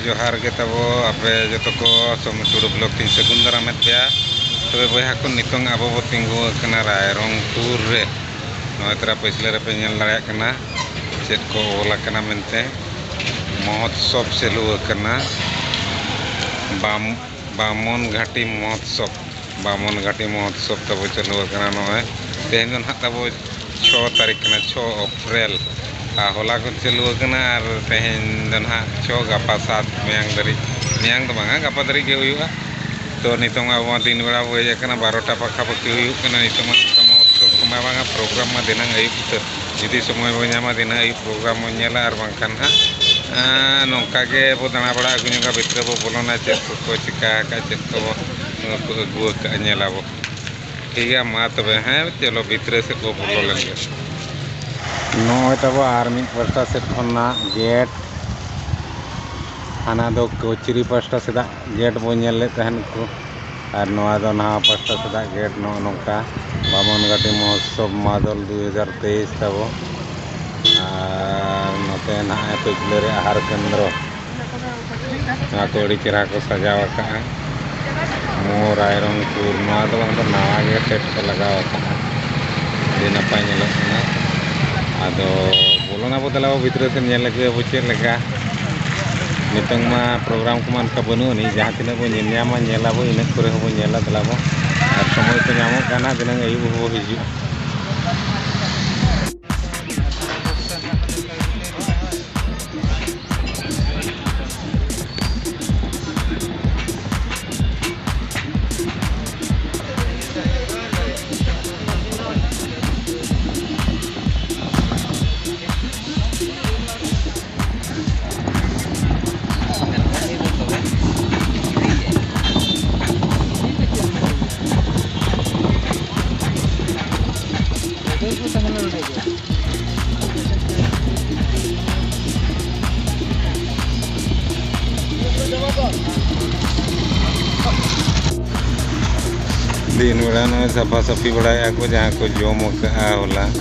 ᱡᱚᱦᱟᱨ ᱜᱮ ᱛᱟᱵᱚ ᱟᱯᱮ ᱡᱚᱛᱚ ᱠᱚ ᱥᱚᱢᱩ ᱴᱩᱰᱩ ᱵᱞᱚᱠ ᱛᱤᱧ ᱥᱟᱹᱜᱩᱱ ᱫᱟᱨᱟᱢᱮᱫ ᱯᱮᱭᱟ ᱛᱚᱵᱮ ᱵᱚᱭᱦᱟ ᱠᱚ ᱱᱤᱛᱚᱝ ᱟᱵᱚ ᱵᱚ ᱛᱤᱸᱜᱩ ᱟᱠᱟᱱᱟ ᱨᱟᱭᱨᱚᱝᱯᱩᱨ ᱨᱮ ᱱᱚᱜᱼᱚᱭ ᱛᱚᱨᱟ ᱯᱟᱹᱪᱷᱞᱟᱹ ᱨᱮᱯᱮ ᱧᱮᱞ ᱫᱟᱲᱮᱭᱟᱜ ᱠᱟᱱᱟ ᱪᱮᱫ ᱠᱚ ᱚᱞ ᱟᱠᱟᱱᱟ ᱢᱮᱱᱛᱮ ᱢᱚᱦᱚᱛᱥᱚᱵᱽ ᱪᱟᱹᱞᱩ ᱟᱠᱟᱱᱟ ᱵᱟᱢ ᱵᱟᱢᱚᱱ ᱜᱷᱟᱴᱤ ᱢᱚᱦᱚᱛᱥᱚᱵᱽ ᱵᱟᱢᱚᱱ ᱜᱷᱟᱴᱤ ᱢᱚᱦᱚᱛᱥᱚᱵᱽ ᱛᱟᱵᱚ ᱪᱟᱹᱞᱩ ᱟᱠᱟᱱᱟ ᱱᱚᱜᱼᱚᱭ ᱛᱮᱦᱮᱧ ᱫᱚ ᱱᱟᱦᱟᱜ ᱛᱟᱵᱚ ᱪᱷᱚ ᱛᱟᱹᱨᱤᱠᱷ ᱠᱟᱱᱟ ᱪᱷᱚ ᱮᱯᱨᱤᱞ ᱟᱨ ᱦᱚᱞᱟ ᱠᱷᱚᱱ ᱪᱟᱹᱞᱩ ᱟᱠᱟᱱᱟ ᱟᱨ ᱛᱮᱦᱮᱧ ᱫᱚ ᱱᱟᱦᱟᱜ ᱪᱷᱚ ᱜᱟᱯᱟ ᱥᱟᱛ ᱢᱮᱭᱟᱝ ᱫᱷᱟᱹᱨᱤᱡ ᱢᱮᱭᱟᱝ ᱫᱚ ᱵᱟᱝᱟ ᱜᱟᱯᱟ ᱫᱷᱟᱹᱨᱤᱡ ᱜᱮ ᱦᱩᱭᱩᱜᱼᱟ ᱛᱚ ᱱᱤᱛᱚᱝ ᱟᱵᱚ ᱢᱟ ᱫᱤᱱ ᱵᱮᱲᱟ ᱵᱚᱱ ᱦᱮᱡ ᱟᱠᱟᱱᱟ ᱵᱟᱨᱚᱴᱟ ᱯᱟᱠᱷᱟ ᱯᱟᱹᱠᱷᱤ ᱦᱩᱭᱩᱜ ᱠᱟᱱᱟ ᱱᱤᱛᱚᱝ ᱢᱟ ᱚᱱᱠᱟ ᱢᱚᱦᱚᱛᱥᱚᱵᱽ ᱠᱚᱢᱟ ᱵᱟᱝᱟ ᱯᱨᱳᱜᱨᱟᱢ ᱢᱟ ᱫᱷᱤᱱᱟᱹᱝ ᱟᱹᱭᱩᱵ ᱩᱛᱟᱹᱨ ᱡᱩᱫᱤ ᱥᱚᱢᱚᱭ ᱵᱚᱱ ᱧᱟᱢᱟ ᱫᱤᱱᱟᱹᱢ ᱟᱹᱭᱩᱵ ᱯᱨᱳᱜᱨᱟᱢ ᱵᱚᱱ ᱧᱮᱞᱟ ᱟᱨ ᱵᱟᱝᱠᱷᱟᱱ ᱦᱟᱸᱜ ᱱᱚᱝᱠᱟ ᱜᱮᱵᱚᱱ ᱫᱟᱬᱟ ᱵᱟᱲᱟ ᱟᱹᱜᱩ ᱧᱚᱜᱟ ᱵᱷᱤᱛᱨᱤ ᱨᱮᱵᱚᱱ ᱵᱚᱞᱚᱱᱟ ᱪᱮᱫ ᱠᱚᱠᱚ ᱪᱤᱠᱟᱹ ᱟᱠᱟᱫᱼᱟ ᱪᱮᱫ ᱠᱚ ᱵᱟᱠᱚ ᱟᱹᱜᱩ ᱟᱠᱟᱫᱼᱟ ᱧᱮᱞ ᱟᱵᱚᱱ ᱴᱷᱤᱠ ᱜᱮᱭᱟ ᱢᱟ ᱛᱚᱵᱮ ᱦᱮᱸ ᱪᱚᱞᱚ ᱵᱷᱤᱛᱨᱤ ᱥᱮᱫ ᱵᱚᱱ ᱵᱚᱞᱚ ᱞᱮᱱ ᱜᱮ ᱱᱚᱜᱼᱚᱭ ᱛᱟᱵᱚ ᱟᱨ ᱢᱤᱫ ᱯᱟᱥᱴᱟ ᱥᱮᱫ ᱠᱷᱚᱱᱟᱜ ᱜᱮᱴ ᱦᱟᱱᱟ ᱫᱚ ᱠᱚᱪᱨᱤ ᱯᱟᱥᱴᱟ ᱥᱮᱫᱟᱜ ᱜᱮᱴ ᱵᱚ ᱧᱮᱞ ᱞᱮᱫ ᱛᱟᱦᱮᱸᱫ ᱠᱚ ᱟᱨ ᱱᱚᱣᱟ ᱫᱚ ᱱᱟᱣᱟ ᱯᱟᱥᱴᱟ ᱥᱮᱫᱟᱜ ᱜᱮᱴ ᱱᱚᱜᱼᱚ ᱱᱚᱝᱠᱟ ᱵᱟᱢᱚᱱ ᱜᱷᱟᱹᱴᱤ ᱢᱚᱦᱳᱛᱥᱚᱵᱽ ᱢᱟᱫᱚᱞ ᱫᱩ ᱦᱟᱡᱟᱨ ᱛᱮᱭᱤᱥ ᱛᱟᱵᱚ ᱟᱨ ᱱᱚᱛᱮ ᱱᱟᱦᱟᱜ ᱯᱟᱹᱪᱞᱟᱹ ᱨᱮ ᱟᱦᱟᱨ ᱠᱮᱱᱫᱨᱚ ᱱᱚᱣᱟ ᱠᱚ ᱟᱹᱰᱤ ᱪᱮᱦᱨᱟ ᱠᱚ ᱥᱟᱡᱟᱣ ᱟᱠᱟᱫᱼᱟ ᱢᱳ ᱨᱟᱭᱨᱚᱝᱯᱩᱨ ᱱᱚᱣᱟ ᱫᱚ ᱵᱟᱝ ᱫᱚ ᱱᱟᱣᱟ ᱜᱮ ᱥᱮᱴ ᱠᱚ ᱞᱟᱜᱟᱣ ᱟᱠᱟᱫᱼᱟ ᱟᱹᱰᱤ ᱱᱟᱯᱟᱭ ᱧᱮᱞᱚᱜ ᱠᱟᱱᱟ ᱟᱫᱚ ᱵᱚᱞᱚᱱᱟᱵᱚ ᱫᱮᱞᱟᱵᱚ ᱵᱷᱤᱛᱨᱤ ᱥᱮᱫ ᱧᱮᱞ ᱟᱹᱜᱩᱭᱟᱵᱚ ᱪᱮᱫ ᱞᱮᱠᱟ ᱱᱤᱛᱚᱝ ᱢᱟ ᱯᱨᱳᱜᱨᱟᱢ ᱠᱚᱢᱟ ᱚᱱᱠᱟ ᱵᱟᱹᱱᱩᱜ ᱟᱹᱱᱤᱡ ᱡᱟᱦᱟᱸ ᱛᱤᱱᱟᱹᱜ ᱵᱚᱱ ᱧᱮᱞ ᱧᱟᱢᱟ ᱧᱮᱞ ᱟᱵᱚ ᱤᱱᱟᱹ ᱠᱚᱨᱮ ᱦᱚᱸᱵᱚᱱ ᱧᱮᱞᱟ ᱫᱮᱞᱟ ᱵᱚᱱ ᱟᱨ ᱥᱚᱢᱚᱭ ᱠᱚ ᱧᱟᱢᱚᱜ ᱠᱷᱟᱱ ᱦᱟᱸᱜ ᱫᱷᱤᱱᱟᱹᱝ ᱟᱹᱭᱩᱵ ᱦᱚᱸᱵᱚᱱ ᱦᱤᱡᱩᱜᱼᱟ ᱫᱤᱱ ᱵᱮᱲᱟ ᱱᱚᱜᱼᱚᱭ ᱥᱟᱯᱷᱟ ᱥᱟᱹᱯᱷᱤ ᱵᱟᱲᱟᱭᱮᱫᱼᱟ ᱠᱚ ᱡᱟᱦᱟᱸ ᱠᱚ ᱡᱚᱢ ᱟᱠᱟᱫᱼᱟ ᱦᱚᱞᱟ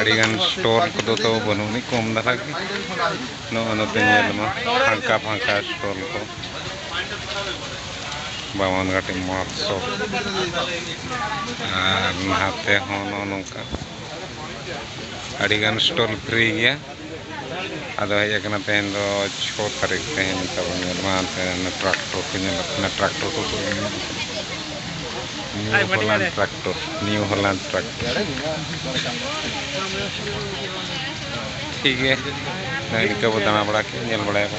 ᱟᱹᱰᱤᱜᱟᱱ ᱥᱴᱚᱞ ᱠᱚᱫᱚ ᱛᱚ ᱵᱟᱹᱱᱩᱜ ᱟᱹᱱᱤᱡ ᱠᱚᱢ ᱫᱷᱟᱨᱟ ᱜᱮ ᱱᱚᱜᱼᱚ ᱱᱚᱛᱮ ᱧᱮᱞ ᱢᱟ ᱯᱷᱟᱸᱠᱟ ᱯᱷᱟᱸᱠᱟ ᱥᱴᱚᱞ ᱠᱚ ᱵᱟᱢᱚᱱ ᱜᱷᱟᱴᱤ ᱢᱚᱦᱚᱛᱥᱚᱵ ᱟᱨ ᱱᱟᱦᱟᱛᱮ ᱦᱚᱸ ᱱᱚᱜᱼᱚ ᱱᱚᱝᱠᱟ ᱟᱹᱰᱤᱜᱟᱱ ᱥᱴᱚᱞ ᱯᱷᱨᱤ ᱜᱮᱭᱟ ᱟᱫᱚ ᱦᱮᱡ ᱟᱠᱟᱱᱟ ᱛᱮᱦᱮᱧ ᱫᱚ ᱪᱷᱚ ᱛᱟᱹᱨᱤᱠᱷ ᱛᱮᱦᱮᱧ ᱛᱟᱵᱚᱱ ᱧᱮᱞ ᱢᱟ ᱴᱨᱟᱠᱴᱚᱨ ᱠᱚ ᱧᱮᱞᱚᱜ ᱠᱟᱱᱟ ᱴᱨᱟᱠᱴᱚᱨ ᱠᱚᱠᱚ New Holland tractor New Holland tractor ᱴᱷᱤᱠ ᱜᱮ ᱱᱤᱝᱠᱟᱹ ᱵᱚ ᱫᱟᱬᱟ ᱵᱟᱲᱟ ᱠᱮᱫ ᱧᱮᱞ ᱵᱟᱲᱟᱭᱟᱵᱚ